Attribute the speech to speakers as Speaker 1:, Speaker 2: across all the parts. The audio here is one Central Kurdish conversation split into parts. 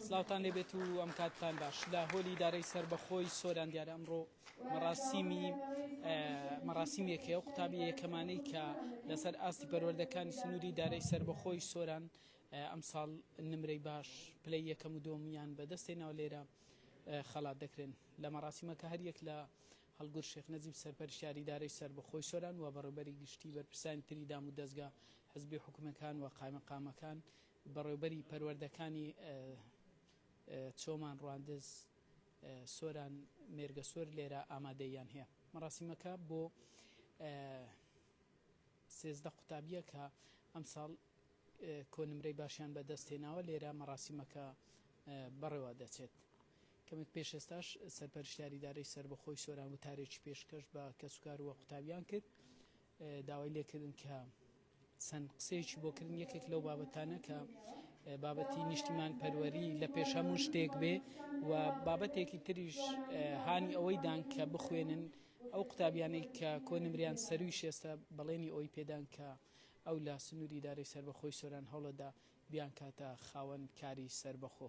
Speaker 1: سڵاوتان لێ بێت و ئەم کاتتان باش لە هۆلی دارەی سربەخۆی سۆران دیارە ئەمڕۆ مەڕاسیمی مەڕاسیمی یەکەیە و قوتابی یەکەمانەی کە لەسەر ئاستی پەروەردەکانی سنووری دارەی سربەخۆی سۆران ئەمساڵ نمرەی باش پلەی یەکەم و دۆمیان بەدەستێنەوە لێرە خەڵات دەکرێن لە مەڕاسیمەکە هەریەک لە هەڵگورد شێخ نەجیب سەرپەرشتیاری ئیدارەی سەربەخۆی سۆران و بەڕێوبەری گشتی بەرپرسانی تری دام و دەزگا حزبی و حکومیەکان و قایمەقامەکان بەڕێوبەری پەروەردەکانی چۆمان ڕواندز سۆران مێرگەسۆر لێرە ئامادەییان هەیە مەڕاسیمەکە بۆ سێزدە قوتابیە کە ئەمساڵ کۆنمرەی باشیان بەدەست هێناوە لێرە مەڕاسیمەکە بەڕێوە دەچێت. کەمێک پێش ئێستاش سەرپەرشتیاری ئیدارەی سەربەخۆی سۆران وتارێکی پێشکەش بە کەسوکار و قوتابیان کرد داوای لێکردن کە چەند قسەیەکی بۆ کردن یەکێک لەو بابەتانە کە بابەتی نیشتیمان پەروەری لە پێش هەموو شتێک بێ و بابەتێکی تریش هانی ئەوەی دان کە بخوێنن ئەو قوتابیانەی کە کۆنمریان سەروی شێستە بەڵێنی ئەوی پێدان کە ئەو لە سنووری دارەی سربەخۆی سۆران هەوڵەدا بیان کاتە خاوەن کاری سربەخۆ.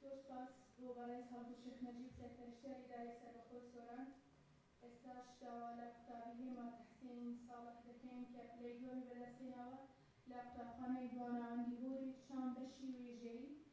Speaker 2: زۆر سوپاس بۆ بەڕێز هەڵگورد شێخ نەجیب سەرپەرشتیار ئیدارەی سەربەخۆی سۆران. ئێستاش داوا لە قوتابی هێما تەحسین ساڵح دەکەین کە پلەی دووەمی بەدەستهێناوە لە قوتابخانەی دوا ناوەندی هۆری چام بەشی وێژەیی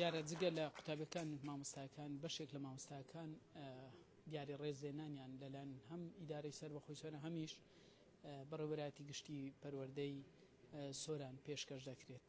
Speaker 1: دیارە جگە لە قوتابەکان مامۆستاکان بەشێک لە مامۆستاکان دیاری ڕێزێنانیان لەلایەن هەم ئیدارەی سەر بەخۆی سۆرە هەمیش بەڕێوەراتی گشتی پەروەردەی سۆران پێشکەش دەکرێت.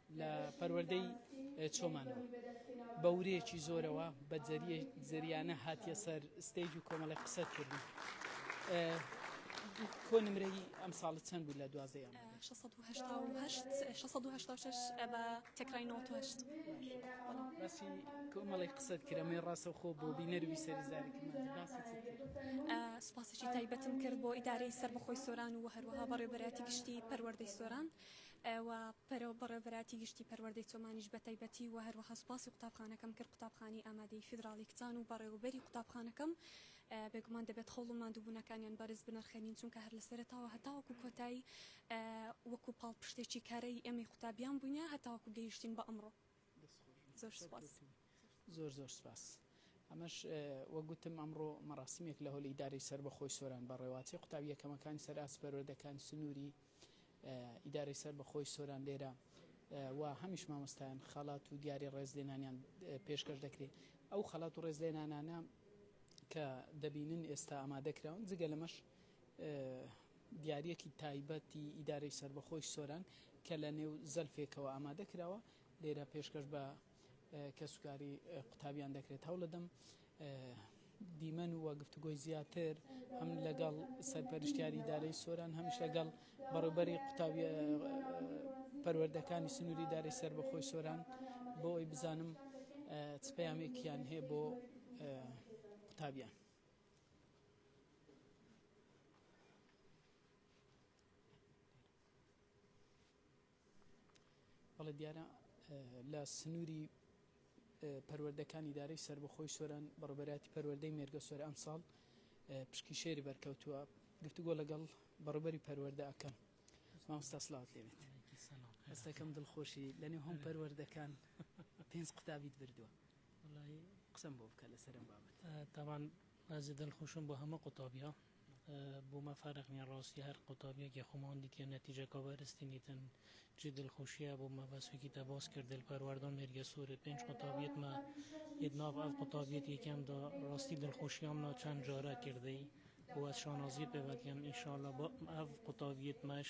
Speaker 1: لە پەروەردەی چۆمانەوە بە ورەیەکی زۆرەوە بە زەریانە هاتیە سەر ستەیج و کۆمەڵی قسە کردی. کۆ نمرەی ئەم ساڵت چەند بوو لە دوازدە بە
Speaker 3: تەکرای
Speaker 1: باسی کۆمەڵی قسەت کرەمەی ڕاستە خۆ بۆ بینەروی سەرزاری سوپاسێکی
Speaker 3: تایبەتم کرد بۆ ئیدارەی سەر بەخۆی سۆران و هەروەها بەڕێبەراتی گشتی پەروەردەی سۆران و پەرۆ بەڕێوەبەراتی گشتی پەروەردەی چۆمانیش بەتایبەتی و هەروەها سوپاسی قوتابخانەکەم کرد قوتابخانەی ئامادەیی فیدراڵی کچان و بەڕێوەبەری قوتابخانەکەم بێگومان دەبێت خەوڵ و ماندووبوونەکانیان بەرز بنرخێنین چونکە هەر لەسەرەتاوە هەتاوەکو کۆتایی وەکو پاڵپشتێکی کارای ئێمەی قوتابیان بوونە هەتاوەکو گەیشتین بە ئەمڕۆ. دەست
Speaker 1: خۆش بی زۆر
Speaker 3: سوپاس. سەرکەوتوبی. زۆر زۆر سپاس.
Speaker 1: ئەمەش وەک گوتم ئەمڕۆ مەراسیمێک لە هۆل ئیدارەی سەربەخۆی سۆران بە ڕێواچەی قوتابی یەکەمەکانی سەر ئاست پەروەردەکانی سنووری ئیدارەی سەربەخۆی سۆران لێرە و هەمیش مامۆستایان خەڵات و دیاری ڕێزلێنانیان پێشکەش دەکرێ ئەو خەڵات و ڕێزلێنانانە کە دەبینن ئێستا ئامادە کراون جگە لەمەش دیاریەکی تایبەتی ئیدارەی سەربەخۆی سۆران کە لە نێو زەلفێکەوە ئامادە کراوە لێرە پێشکەش بە کەسوکاری قوتابیان دەکرێت هەوڵەدەم دیمەن و گفتوگۆی زیاتر هەم لەگەڵ سەرپەرشتیاری دارەی سۆران هەمیش لەگەڵ بەڕێبەری قوتابی پەروەردەکانی سنووری دارەی سەر بەخۆی سۆران بۆ ئەوی بزانم چ پەیامێکیان هەیە بۆ قوتابیان بەڵێ دیارە لە سنووری پەروەردەکان ئیدارەی سربەخۆی سۆران بەڕبەراتی پەروەردەی مێرگە سۆر ئەم ساڵ پشکی شێری بەرکەوتووە گفتوگۆ لەگەڵ بەڕبەری پەروەەردە ئەەکەم مامستا سلااوت لێنێت هەستەکەم دڵخۆشی لەنێ هەم پەروەەردەکان پێنج قوتابیت بردووە وەڵایی قسەم بۆ بکە لەسەر ئەم بابەتە. تابان
Speaker 4: بەزێ دل خوشم بۆ هەمە قوتابیا بومە فەرق نیە ڕاستی هەر قوتابیەک یە خۆمان دیتیە نەتیجە کابەرستی نیتن جی دل خوشیە بومە بەس وەکی تە باس کرد دل پەروەردان مێرگە سورێ پێنج قوتابیت مە یت ناڤ ئەڤ قوتابیت یەکێم دا ڕاستی دل خوشیام نا چەن جارە کردەی وە شانازیە پێڤەت کەم ئینشاڵا با ئەڤ قوتابیت مەش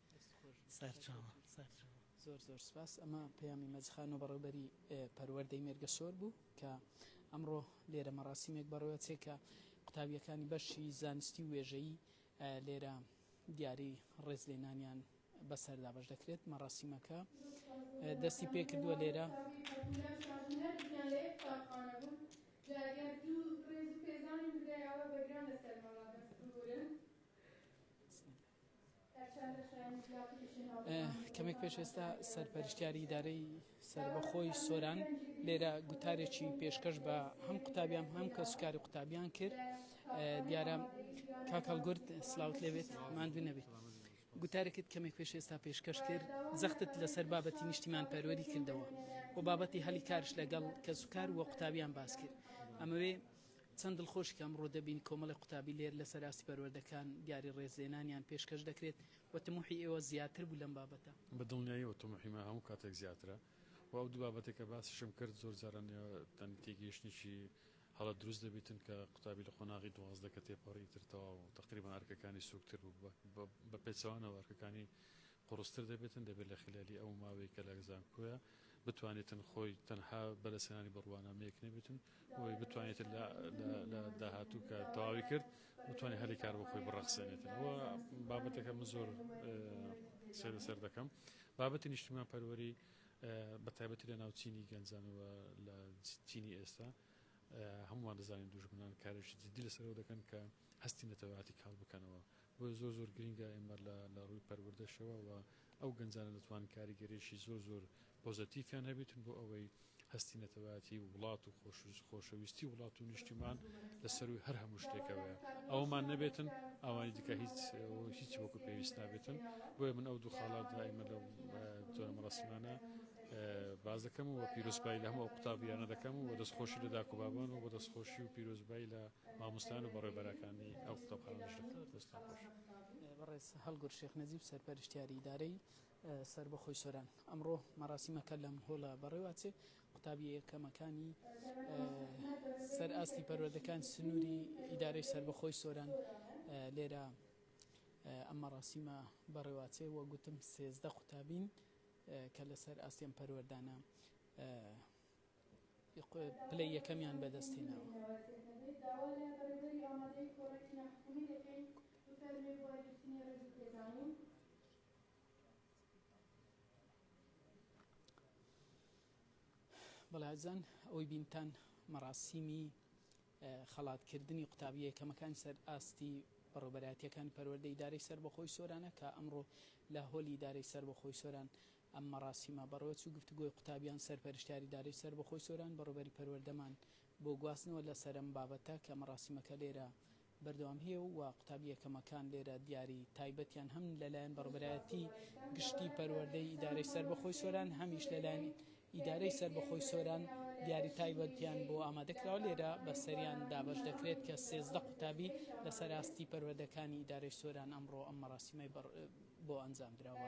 Speaker 4: سەرچاوە
Speaker 1: زۆر زۆر سوپاس ئەمە پەیامی مەجد خان و بەڕێوبەری پەروەردەی مێرگەشۆر بوو کە ئەمڕۆ لێرە مەڕاسیمێک بەڕێوەچێ کە قوتابیەکانی بەشی زانستی و وێژەیی لێرە دیاری ڕێزلێنانیان بەسەر دابەش دەکرێت مەڕاسیمەکە دەستی پێکردووە لێرە کەمێک پێش ئێستا سەرپەرشتیاری ئیدارەی سەربەخۆی سۆران لێرە گوتارێکی پێشکەش بە هەم قوتابیان هەم کە سوکاری قوتابیان کرد دیارە کاکەڵگورد سلااوت لێبێت ماندوو نەبێت. گوتارێکت کەمێک پێش ئێستا پێشکەش کرد زەختت لەسەر بابەتی نیشتیمان پەروەری کردەوە و بابەتی هەلی کارش لەگەڵ کە سوکار وە قوتابیان باس کرد ئەمەوێ چەند دڵخۆش کە ئەمڕۆ دەبین کۆمەڵی قوتابی لێر لەسەر ئاستی پەروەردەکان دیاری ڕێزلێنانیان پێشکەش دەکرێت و تموحی ئێوە زیاتر بوو لەم بابەتە. بە دڵنیاییەوە تموحی
Speaker 5: من هەموو کاتێک زیاترە و ئەو دوو بابەتەی کە باسیشم کرد زۆر جاران یانی تێگەیشتنێکی هەڵە دروست دەبیتن کە قوتابی لە قۆناغی دوازدە کە تێپەڕی ئیتر تەواو تەقریبەن ئەرکەکانی سووکتر بوو بە پێچەوانەوە ئەرکەکانی قوڕستر دەبێتن دەبێت لە خیلالی ئەو ماوەی کە لە زانکۆیە بتوانێتن خۆی تەنها بەدەستهێنانی بڕوانامەیەک نەبێتن بۆی بتوانێت لە داهاتوو کە تەواوی کرد بتوانێت هەلی کار بۆ خۆی بڕەخسێنێتەوە بابەتەکە من زۆر سێ لەسەر دەکەم بابەتی نیشتمان پەروەری بە تایبەتی لە ناوچینی گەنجانەوە لە چینی ئێستا هەمووان دەزانین دوژمنان کارێکی جددی لەسەرەوە دەکەن کە هەستی نەتەواتی کاڵ بکەنەوە بۆ زۆر زۆر گرنگە ئێمە لە ڕووی پەروەردەشەوە و ئەو گەنجانە دەتوان کاریگەرێکی زۆر زۆر پۆزەتیفیان هەبێتن بۆ ئەوەی هەستی نەتەوایەتی وڵات و خۆشەویستی وڵات و نیشتیمان لە سەرووی هەر هەموو شتێکەوەیە ئەومان نەبێتن ئەوانی دیکە هیچ هیچ وەکو پێویست نابێتن بۆیە من ئەو دوو خاڵات دائمە لەو جۆرە مەڕسمانە باز دەکەم و پیرۆسپای لە هەموو قوتابیانە دەکەم و دەستخۆشی لە داکو بابان و بە دەستخۆشی و پیرۆزبایی لە مامۆستان و بەڕێبەرەکانی ئەو قوتابخانەش دەکەم دەستان خۆش بەڕێز
Speaker 1: هەڵگورشێخ نەجیب سەرپەرشتیاری ئیدارەی سەربەخۆی سۆران ئەمڕۆ مەراسیمەکە لەم هۆڵە بەڕێواچێ قوتابیە یەکەمەکانی سەر ئاستی پەروەردەکان سنووری ئیدارەی سەربەخۆی سۆران لێرە ئەم مەراسیمە بەڕێواچێ وە گوتم سێزدە قوتابین کە لەسەر ئاستیان پەروەردانە پلەی یەکەمیان بەدەستهێناوە. بەڵێ ئازیزان ئەوەی بینتان مەراسیمی خەڵاتکردنی قوتابیە یەکەمەکان سەر ئاستی بەڕێوبەرایەتیەکانی پەروەردە ئیدارەی سەربەخۆی سۆرانە کە ئەمڕۆ لە هۆلی ئیدارەی سەربەخۆی سۆران ئەم مەراسیمە بەڕێوەچوو گفتوگۆی قوتابیان سەرپەرشتیاری ئیدارەی سەربەخۆی سۆران بەڕێوبەری پەروەردەمان بۆ گواستنەوە لە سەر ئەم بابەتە کە مەراسیمەکە لێرە بەردەوام هیە و قوتابی یەکەمەکان لێرە دیاری تایبەتیان هەم لە لایەن بەڕبەرایەتی گشتی پەروەردەی ئیدارەی سەربەخۆی سۆران هەمیش لە لایەن ئیدارەی سەربەخۆی سۆران دیاری تایبەتیان بۆ ئامادە کراوە لێرە بە سەریان دابەش دەکرێت کە سێزدە قوتابی لە سەر ئاستی پەروەردەکانی ئیدارەی سۆران ئەمڕۆ ئەم مەراسیمەی بۆ ئەنجام دراوە.